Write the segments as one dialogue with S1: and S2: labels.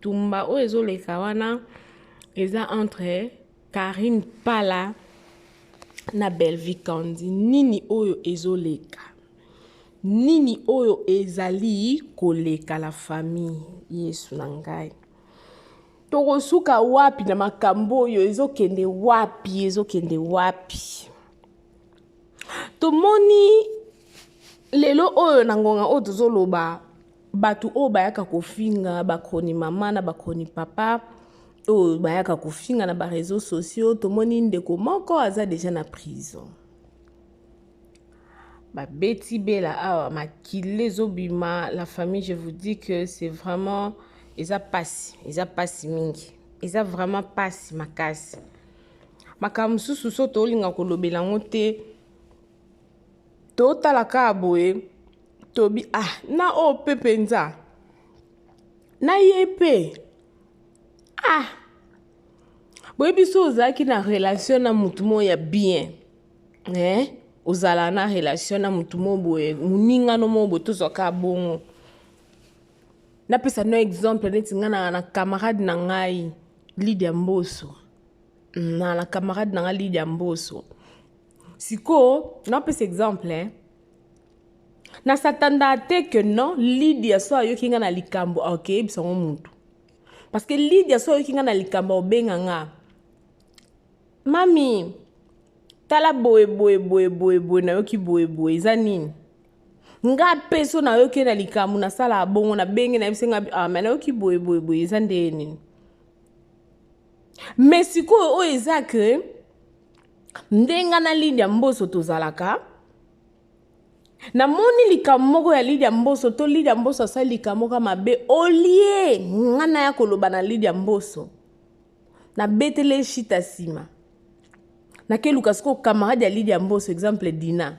S1: Tumba oyo ezoleka wana eza entre Karine Pala na Bellevue Kandy. Nini oyo ezoleka? Nini oyo ezali koleka la famille Yesu na ngai? Tokosuka wapi na makambo oyo ezokende wapi ezokende wapi? Tomoni lelo oyo na ngonga oyo tozoloba bato oyo bayaka kofinga bakroni mama na bakroni papa oyo bayaka kofinga na bareseau sociaux tomoni ndeko moko aza deja na prison babeti bela awa makila ezobima la famille je vous dis que c'est vraiment eza mpasi eza mpasi mingi eza vraiment mpasi makasi makambo mosusu so tolinga kolobela yango te totala kaka boye tobi ah na oyo mpe mpenza na ye mpe ah boyebi so ozalaki na relation na motu moko ya bien eh? ozala na relation na motu moko boye moningano moko boye tozwaka bongo napesa no exemple neti ngai na, na camarade na ngai lidia mboso na, na camarade na ngai lidia mboso Sikoyo napesa exemple hein. na satanda te que non lidia so ayoki nga na likambo akeyebisa ngo mutu parce que lidia so ayoki nga na likambo aobenga nga mami tala boye boye boye boye boye nayoki boye boye eza nini nga mpe so nayoki na likambo nasala bongo nabenge nayebisi nga ah, me nayoki boye boye boye eza ndeye nini me sikoyo oyo eza ke ndenga na lidia mboso tozalaka namoni likambo moko ya lidia mboso to lidia mboso asali likambo moko mabe olie nga naya koloba na lidia mboso nabetele ye shita nsima nakeluka sikoyo camarade ya lidia mboso exemple dina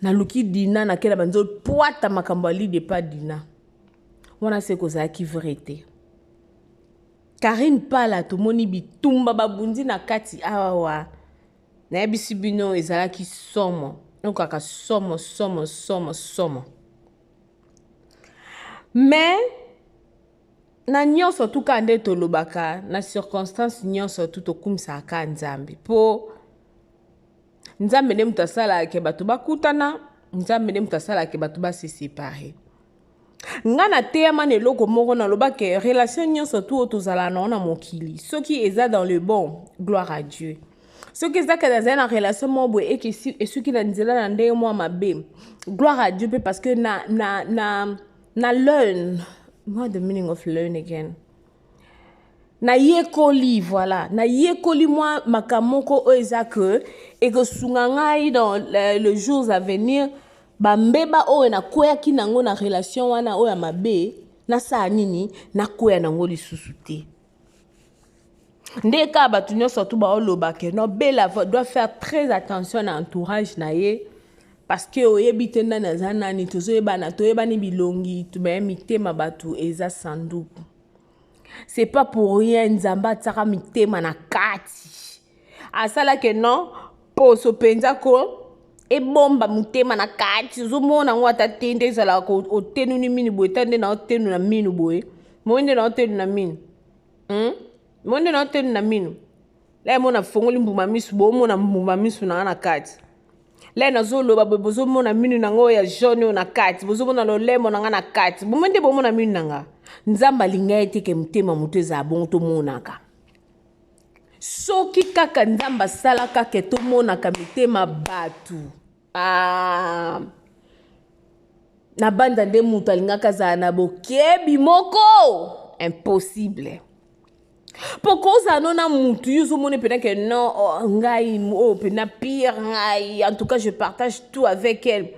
S1: naluki dina nakela banzo pwata makambo ya lidia epa dina wana se kozalaki vrai te Carine pala tomoni bitumba babundi na kati awa nayebisi bino ezalaki somo okaka somo somo somo somo mais na nyonso tu ka nde tolobaka na circonstance nyonso tu tokumisaka ka nzambe mpo nzambe nde moto asalaka bato bakutana nzambe nde moto asalaka bato basesepare nga nateyama na eloko moko naloba ke relation nyonso tu oyo tozala na ona mokili soki eza dans le bon gloire à dieu soki eza kende azali na relation moko boye eke esuki na nzela na ndenge mwa mabe gloire à dieu mpe parce que na, na, na, na learn what the meaning of learn again nayekoli voilà nayekoli mwa makambo moko oyo eza ke ekosunga ngai dans le, le jours à venir bambeba oyo nakweyaki nango na relation wana oyo ya mabe nasala nini nakweya nango lisusu te nde kaka bato nyonso tu baolobake no bela doit faire très attention na entourage na ye Parce que oyebi te nani aza nani tozoyebana toyebani bilongi mais mitema bato eza sanduku c'est pas pour rien nzambe atiaka mitema na kati asalake non poso mpenza ko ebomba motema na kati ozomona yango ata te nde ezalaka otenuni mini boye ta nde na otenu na minu boye moi nde na otenu na minu hmm? monde na otoni na mino la mona afongoli mbuma misu bomona mbuma misu na na kati la nazoloba boye bozomona minu na ngai oyo ya jaune oyo na kati bozomona lolemo na ngai na kati bomo nde bomona minu na ngai nzambe alinga ye te ke motema moto ezala bongo tomonaka soki kaka nzambe asalaka ke tomonaka mitema bato Ah, nabanza nde moto alingaka azala na bokebi moko impossible mpo kozala no na motu yo ozomona mpena ke non oh, ngai oyo oh, mpena pire ngai en tout cas je partage tout avec elle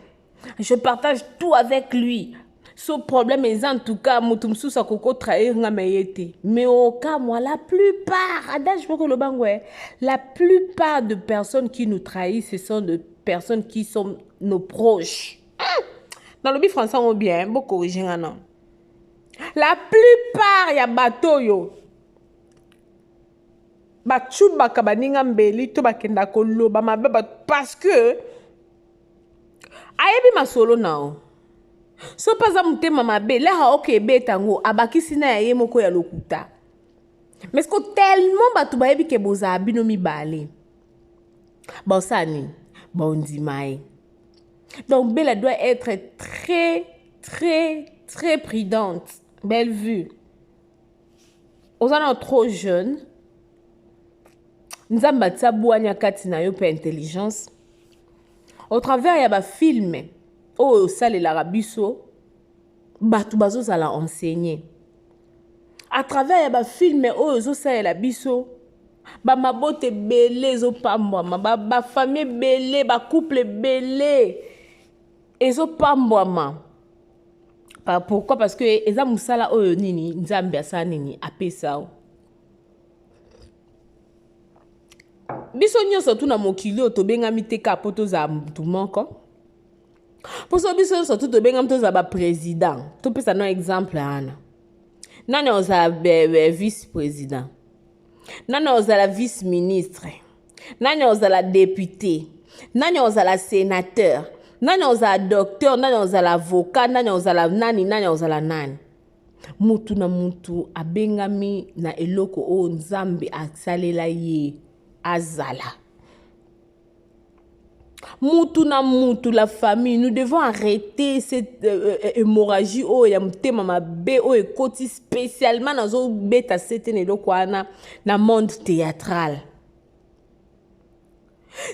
S1: je partage tout avec lui so problème eza en tout cas moto mosusu akoko trahir nga me ye te mais okamwa la plupart adage moko eloba ngo eh, la plupart de personnes qui nous trahissent ce sont de personnes qui sont nos proches nalobi français yango bien bokorige nga na la plupart ya bato oyo bacubaka baninga mbeli to bakenda koloba mabe bato parce que ayebi masolo nao so mpe aza motema mabe laka oke ebeta yango abakisi na ya ye moko ya lokuta mais ko tellement bato bayebi ke bozala bino mibale baosala nini baondima ye donc bela doit être très très très prudente belle vue oza nano trop jeune nzambe atia bwanya kati na yo mpe intelligence au travers ya bafilme oyo osalelaka biso bato bazozala enseigner à travers ya bafilme oyo ezosalela biso bamabota ebele ezopambwama bafamille ebele bacouple ebele ezo pambwama pourquoi parce que eza mosala oyo nini nzambe asala nini apesa o biso nyonso tu na mokili oyo tobengami te kaka mpo tozala motu moko mposo biso nyonso tu tobengami tozala baprésident topesa no exemple wana nani ozala vice président nani akozala vice ministre nani akozala depute nani akozala senateur nani akozala docteur nani akozala avocat nani akozala nani nani akozala nani mutu na mutu abengami na eloko oyo nzambe asalela ye azala mutu na mutu la famille nous devons arrêter cette euh, euh, euh hémorragie oyo ya motema mabe oyo ekoti spécialement nazobeta sete na eloko wana na monde théâtral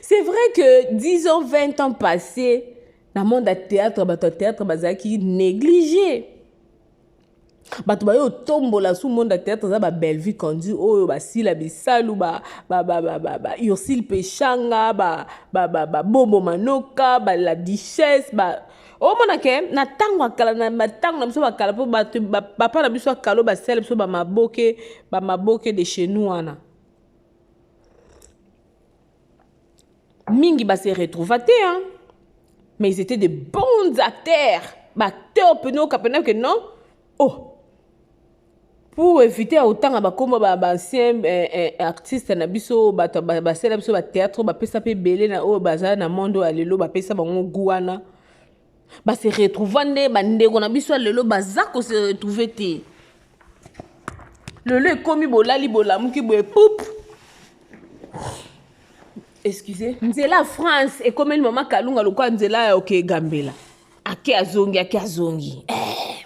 S1: c'est vrai que 10 ans 20 ans passé na monde ya théâtre bato ya théâtre bazalaki néglige bato baye otombola sous monde ya théâtre eza ba bellevue candu oyo basila bisalu baursile peshanga babobo manoka bala duchesse ba omona ke na ntango ya kala na ntango na biso bakala mpo bato papa na biso akalo basala biso bamaboke bamaboke de chez nous wana mingi ba se retrouva te hein mais ils étaient de bons acteurs ba acteurs peno kapena que non oh pour éviter ya kotanga bakoma baancien ba eh, eh, artiste na biso bato basala biso bathéâtre bapesa mpe ebele na oyo baza na monde oyo ya lelo bapesa bango gu wana ba se retrouva nde bandeko na biso ya lelo baza ko se retrouve te lelo ekomi bolali bolamuki boye pup excuse nzela france ekomeli mama kalunga lokola nzela ya oke egambela ake azongi ake azongi eh.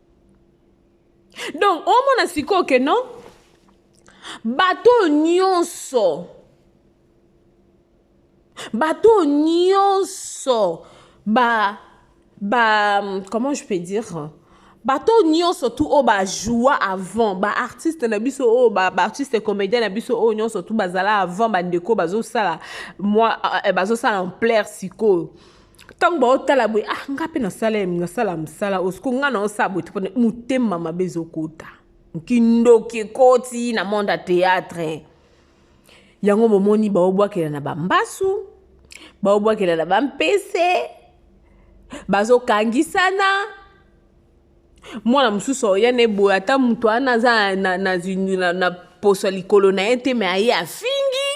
S1: donc omona sikoyo ke non bato oyo nyonso bato oyo nyonso ba ba comment je peux dire bato oyo nyonso tu oyo bajoua avant baartiste na biso oyo baartiste comédien na biso oyo nyonso tu bazala avant bandeko bazosala mwa eh, bazosala ampleur sikoyo ntango baotala boye ah nga mpe nasala nasala mosala oyo siko nga naosala boye topona motema mabe ezokota nkindoki ekoti na monde ya théâtre yango bomoni baobwakela na bambasu baobwakela na bampese bazokangisana mwana mosusu oya na eboye ata moto wana aza na, na, na, na, na poso ya likolo na ye te me aye afingi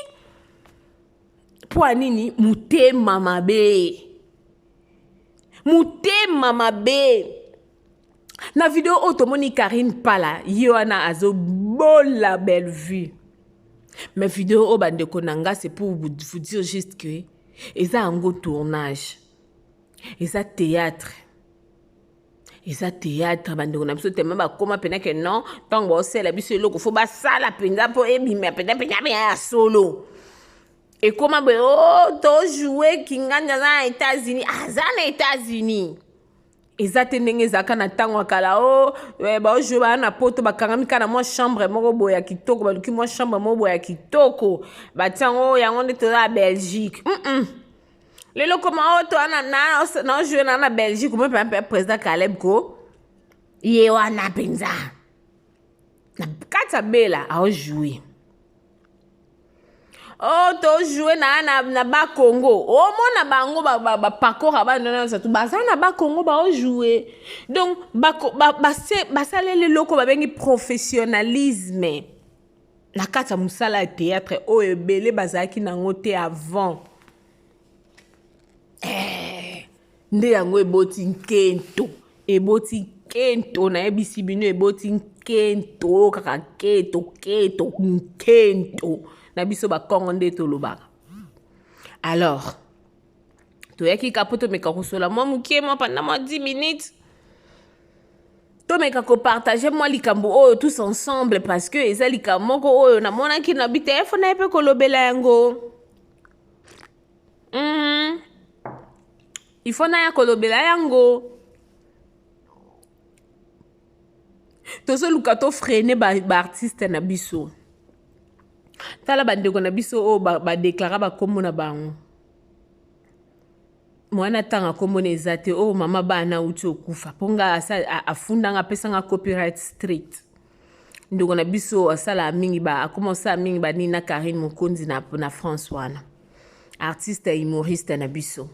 S1: mpo ya nini motema mabe motema mabe na video oyo tomoni karine pala ye wana azobola bellevue mais video oyo bandeko na nga c'est pour vous dire juste que eza yango tournage eza théâtre eza théâtre bandeko na biso tellement bakoma mpena ke non ntango baosala biso eloko fo basala mpenza mpo ebima mpenza mpenza mpenza ya solo ekoma boye o oh, tojoue kingandi aza na états-unis aza na états-unis eza te ndenge ezalaka na ntango ya kala o oh, eh, baojoue baa na poto bakangami kaka na mwa chambre moko boye ya kitoko baluki mwa chambre moko boye ya kitoko batiango yango nde toza ya belgique mm -mm. lelo koma oyo toa naojoue na na belgique omoi mpe président caleb ko ye wana mpenza na kati ya bela aojoue o oh, tojoue na na, na bakongo omona oh, bango bapakora ba, ba, bana nyonso tu baza na bakongo baojoue donc basaleli eloko babengi professionnalisme na kati ya mosala ya théâtre oyo ebele bazalaki nango te avant eh, nde yango eboti nkento eboti nkento nayebisi bino eboti nkento kaka keto keto nkento na biso bakongo nde tolobaka alors toyaki ka mpo tomeka kosola mwa moke mwa panda mwa 10 minutes tomeka kopartage mwa likambo oyo tous ensemble parce que eza likambo moko oyo namonaki na bitelefone na ye mpe kolobela yango mm. ifo naya kolobela yango tozoluka tofrene baartiste ba na biso tala bandeko na biso oyo badeklara ba bakombo na bango mwana atanga kombo na eza te oyo oh, mama bana auti okufa mpo nga afundanga apesanga copyright street ndeko na biso asalaka mingi ba akoma kosala mingi banini na karine mokonzi na, na france wana artiste humoriste na biso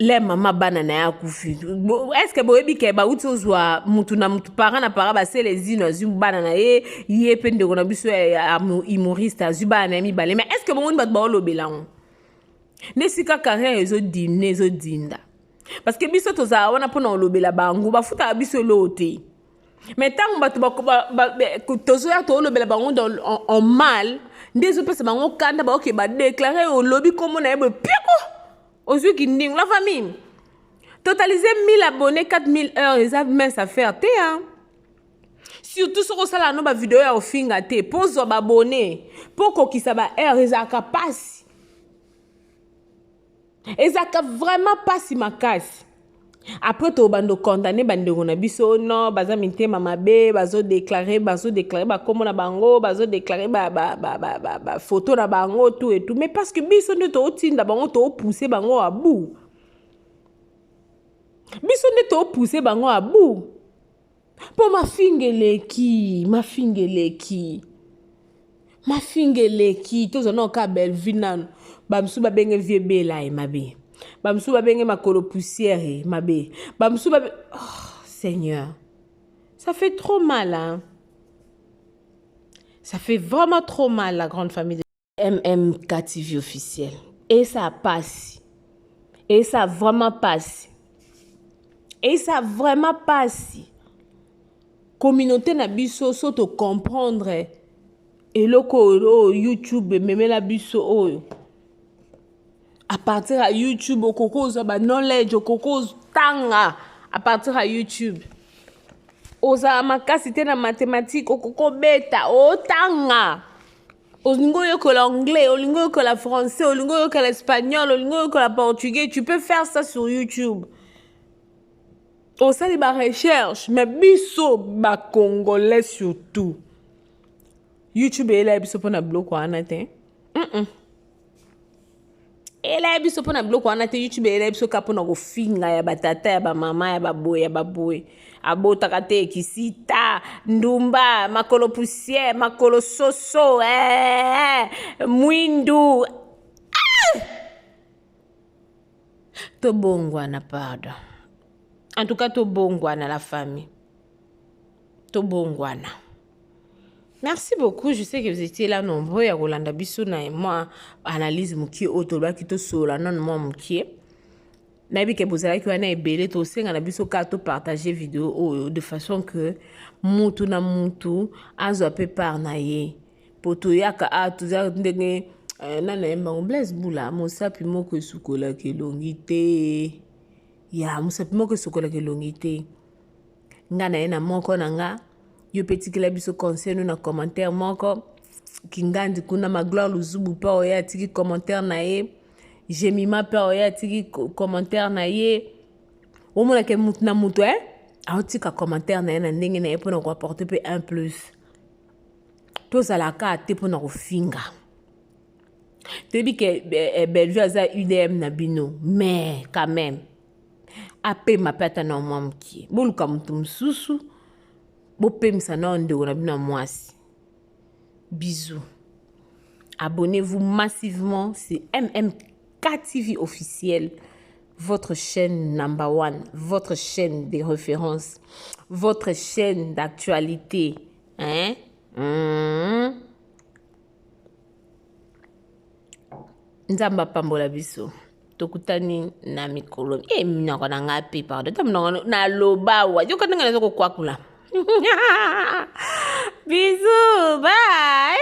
S1: le mama bana na ye akufi eske boyebi ke bauti ozwa mutu na mutu para na para basele zino azwi bana na ye ye mpe ndeko na biso ya humoriste azwi bana na ye mibale mais eske bomoni bato baolobela yango nde sika carrière ezodimne ezodinda parce que biso tozala wana mpona kolobela bango bafutaka biso eloo te mais ntango bato tozoya toolobela bango en mal nde ezopesa bango kanda baoke badeklare olobi nkombo na ye boye piako ozwi kindingu la famille totaliser 1000 abonné 4000 heures eza mince affaire te hein? surtout soki osala yano bavideo ya kofinga te mpo ozwa babone mpo okokisa baheure ezalaka mpasi ezalaka vraiment mpasi makasi après tobando condamne bandeko na biso non baza mitema mabe bazodeklare bazodeklare bakombo na bango bazodeklare bafoto na bango tout et tout mais parce que biso nde tootinda bango toopousse bango abu biso nde toopousse bango abu mpo mafinga eleki mafinga eleki mafinga eleki tozwa nao kaka bellevue nanu bamosusu babenge vie bela ye mabe bamosusu babenge makolo poussière ye mabe bamosusu babe oh, seigneur ça fait trop mal hein? ça fait vraiment trop mal la grande famille MMKTV officiel. Et ça passe. Et ça vraiment passe. Et ça vraiment passe. Communauté na biso so to comprendre eloko oyo YouTube ememela biso oyo. À partir ya YouTube okoki ozwa ba knowledge okoki otanga à partir ya YouTube. Ozala makasi te na mathématique okoki obeta otanga. olingi oyekola anglais olingi oyekola français olingi oyekola espagnol olingi oyekola portugais tu peux faire ça sur youtube osali barecherche mais biso bacongolais surtout youtube eyelaya biso mpo na biloko wana te mm -mm. elaya biso mpo na biloko wana te youtube elaya biso kaka mpo na kofinga ya batata ya bamama ya baboye ya baboye abotaka te kisita ndumba makolo poussière makolo soso eh, mwindu ah! tobongwana pardon en tout cas tobongwana la famille tobongwana Merci beaucoup. Je sais que vous étiez là nombreux à Rolanda Bissou na moi analyse mukie otoba kito sola non moi mukie. Nabi ke bozala ki wana ebele to senga na biso ka to partager vidéo oyo de façon que mutu na mutu azo pe par na ye. Poto yaka a ah, tuza ndenge euh, na na mbango Blaise Bula mosapi moko esukola ke longi te. Ya mosapi moko esukola ke longi te. nga na ye na moko na nga yo mpe tikela biso conseil no na commentaire moko kingandi kuna magloire luzubu mpe oyo atiki commentaire na ye jemima mpe oyo atiki commentaire na ye omonake motu na motu e aotika commentaire na ye na ndenge na ye mpo na koapporte mpe un plus tozalaka te mpo na kofinga toyebi ke eh, eh, bellevue aza udm na bino mais quand même apema mpe ata na mwa mokie boluka moto mosusu bopemisa nao ndeko na bino ya mwasi bisous abonnez-vous massivement c'est mmk tv officiel votre chaîne number one votre chaîne de référence votre chaîne d'actualité hein mmh. nzambe apambola biso tokutani na mikolo e eh, minoko na ngai mpe pardo ta minoko naloba wa yoka ndenge naza kokwakula bisu bai